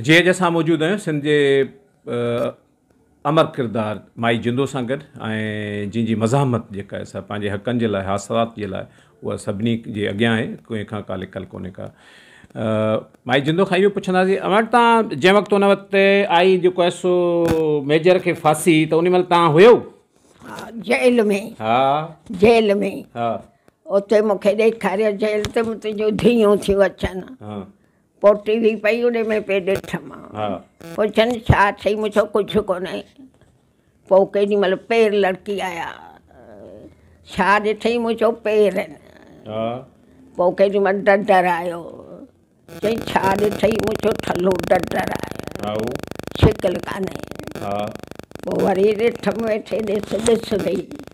جي اڄ اسان موجود آهيون سنڌ جي امر ڪردار مائي جندو سان گڏ ۽ جنهن جي مزاحمت جيڪا سا پنهنجي حقن جي لاء حاصلات جي لاء اها سڀني جي اڳيان آهي ڪنهن کان ڪا لڪل ڪونهي ڪا مائي جندو کان اهو پڇنداسين اوهان وٽ تان جنهن وقت ان وقت آئي جيڪو آهي سو ميجر کي ڦاسي ته ان مهل تان هيو جيل ۾ ها جيل ۾ ها اتي مونکي ڏيکاريو جيل ته تنهنجو ڌيون ٿيون اچن ها پوٽي وي پئي اڏي ۾ پئي ڏٺ مان پڇن ڇا ٿئي مون چيو ڪجهه ڪونهي پوء ڪيڏي مهل پير لڙڪي آيا ڇا ڏٺئي مون چيو پير آهن پوء ڪيڏي مهل ڊڊر آيو چئي ڇا ڏٺئي مون چيو ٺلو ڊڊر آيو شڪل ڪانهي پوء وري ڏٺم ويٺي ڏس ڏس وئي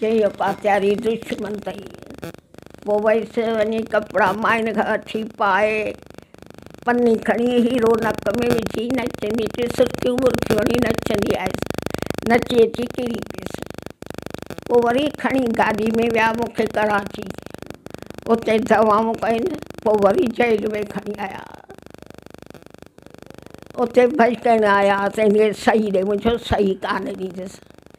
چيو پاتياري دشمن تئي پو ويس وڃي ڪپڙا مائن کان وٺي پائي پني کڻي هيرو نڪ ۾ وجهي نچندي ڪي سرڪيون برڪيون هڻي نچندي آيس نچي اچي ڪري پيس پو وري کڻي گاڏي ۾ ويا مونکي ڪراچي اتي دوائون ڪين پو وري جيل ۾ کڻي آيا اتي ڀڄ ڪين آيا تنهن کي سهي ڏي منهنجو سهي ڪانه ڏيندس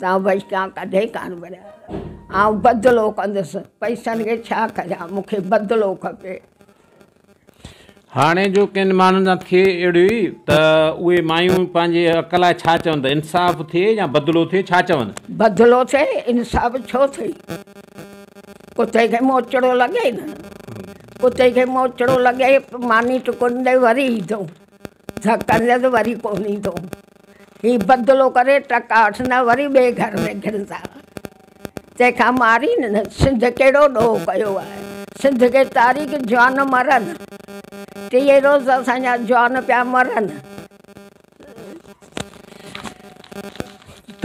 تون بچتان ڪڏهن ڪانه ورياء آئون بدلو ڪندس پئسن کي ڇا ڪريان مون کي بدلو کپي. هاڻي جو ڪن ماڻهن سان ٿئي اهڙي ته اهي مايون پنهنجي حق لاء ڇا چون ته انصاف ٿئي يا بدلو ٿئي ڇا چون؟ بدلو ٿئي انصاف ڇو ٿئي؟ ڪتي کي موچڙو لڳي نه ڪتي کي موچڙو لڳي ماني ٽڪون ڏي وري ايندو ڌڪ ڏيل وري ڪونه ايندو. هي بدلو ڪري ٽڪا وٺندا وري ٻئي گهر ۾ گهڙندا. تنهن کان مارين نه سنڌ ڪهڙو ڏوهه ڪيو آهي. سنڌ کي تاريخ جوان مرن. ٽيهي روز اسان جا جوان پيا مرن.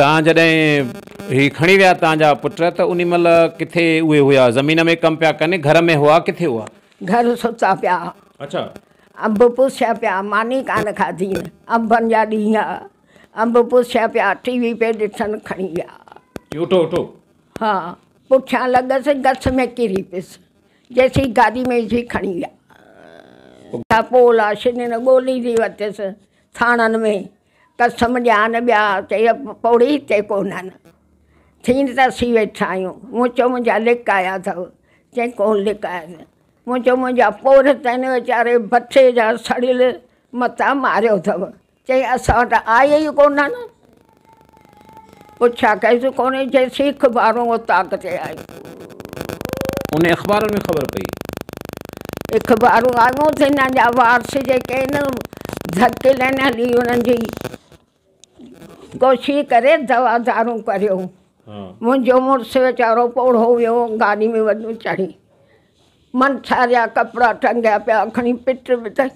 تان جڏهن هي کڻي ويا تان جا پٽ ته انهي مهل ڪٿي اهي هيا زمين ۾ ڪم پيا ڪن گهر ۾ هئا ڪٿي هئا. گهر ستا پيا اڇا انب پوسيا پيا ماني ڪانه کاڌي انبن جا ڏينهن آ انب پوسيا پيا ٽي وي پي ڏٺن کڻي ويا اٺو اٺو ها پٺيان لڳس گس ۾ ڪري پيس جيسين گاڏي ۾ جي کڻي ويا پولا شنين ڳولي ڏي وتس ٿاڻن ۾ قسم ڏيان ٻيا چئي پوڙهي هتي ڪونهن. ٿين ته اسين ويٺا آهيون. مون چيو منهنجا لڪ آيا اٿئو؟ چيائين ڪونه لڪ آيا آهن. مون چيو منهنجا پوڙهه ته هن ويچاري ڀٺي جا سڙيل متان ماريو اٿئو. چيائين اسان وٽ آيا ئي ڪونهن. پڇا ڪيس ڪونهي جي سيخ ٻارهون اوطاق تي آيو. ان اخبارن ۾ خبر پئي. اخبارون آيون ته هن جا وارث جيڪي هن ڌڪيلن هلي انهن جي ڪوشش ڪري دوا دارون ڪريو. منهنجو مڙس ويچارو پوڙهو ويو گاڏي ۾ وڃي چڙهي منٿا جا ڪپڙا ٽنگيا پيا کڻي پٽ به تئي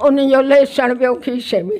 ان جو ليسڻ پيو کيسي ۾.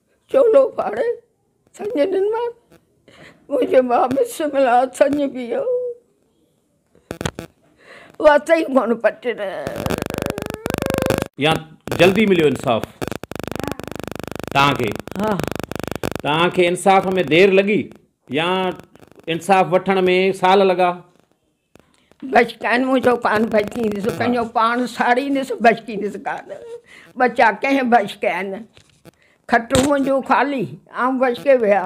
چولو ڦاڙي سڃ ڏنوار منهنجي ماء مس ملا سڃ پيو واتئي ڪونه پٽڻ. يا جلدي مليو انصاف توهان کي توهان کي انصاف ۾ دير لڳي يا انصاف وٺڻ ۾ سال لڳا. بشڪين مون جو ڪان بشڪين سو ڪنهن جو پاڻ ساڙين سو بشڪين سو ڪان ٻچا ڪنهن بشڪين کٽون منهنجون خالي آئون بشڪي ويا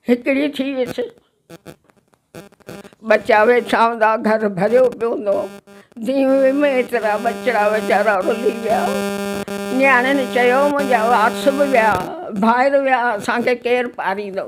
هڪڙي ٿي ويس ٻچا ويٺا هوندا گهر ڀريو پيو هوندو ديوي ۾ ايترا ٻچڙا ويچارا رلي ويا نياڻين چيو منهنجا وارث به ويا ڀائر ويا اسان کي ڪير پاريندو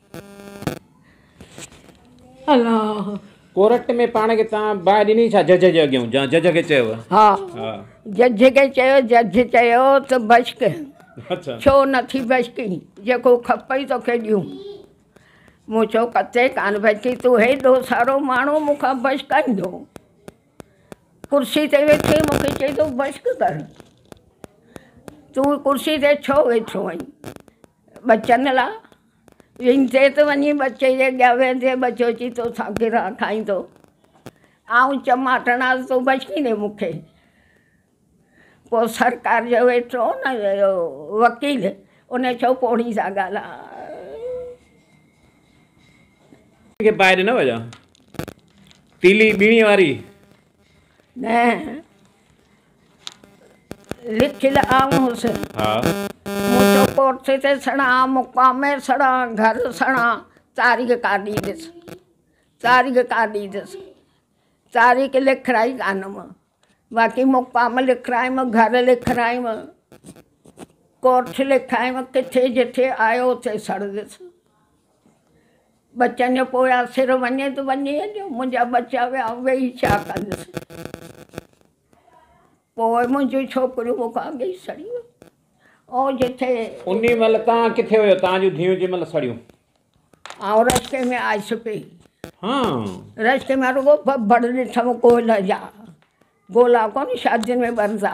ڪورٽ ۾ پاڻ کي توهان باهه ڏني ڇا جج جي اڳيان جا جج کي چيو ها ها جج کي چيو جج چيو ته بشڪ اڇا ڇو نه ٿي بشڪي جيڪو کپئي توکي ڏيون مون چيو ڪتي ڪان بشڪي تون هيڏو سارو ماڻهو مون کان بشڪائيندو ڪرسي تي ويٺي مون کي چئي ٿو بشڪ ڪر تون ڪرسي تي ڇو ويٺو آهين ٻچن لا ويندي ته وڃي ٻچي جي اڳيان ويهندي ٻچو اچي توسان گرها کائيندو آئون چماٽڻ آز تو بچي ني مون کي پوء سرڪار جو ويٺو نه وڪيل ان چيو پوڙهي سان ڳالهاء. لکيل آئون هوس. مون چيو ڪورسي تي سڻان، مقام ۾ سڻان، گهر سڻان، تاريخ ڪا ڏيندس، تاريخ ڪا ڏيندس، تاريخ لکرائي ڪانه مان، باقي مقام لکرايم، گهر لکرايم، ڪورس لکايم، ڪٿي جتي آيو اتي سڙندس. ٻچن جو پويان سر وڃي ته وڃي اڄ، منهنجا ٻچا ويا، آئون ويهي ڇا ڪندس؟ پوء منهنجون ڇوڪريون مون کان اڳ ئي سڙي ويون. آئون جتي. انهي مهل توهان ڪٿي هيو؟ توهان جون ڌيئون جنهن مهل سڙيون. آئون رستي ۾ آيس پئي. هان. رستي مان رڳو ٻه ڀڙ ڏٺم ڪوئلن جا. گولا ڪونه شادين ۾ ٻرندا.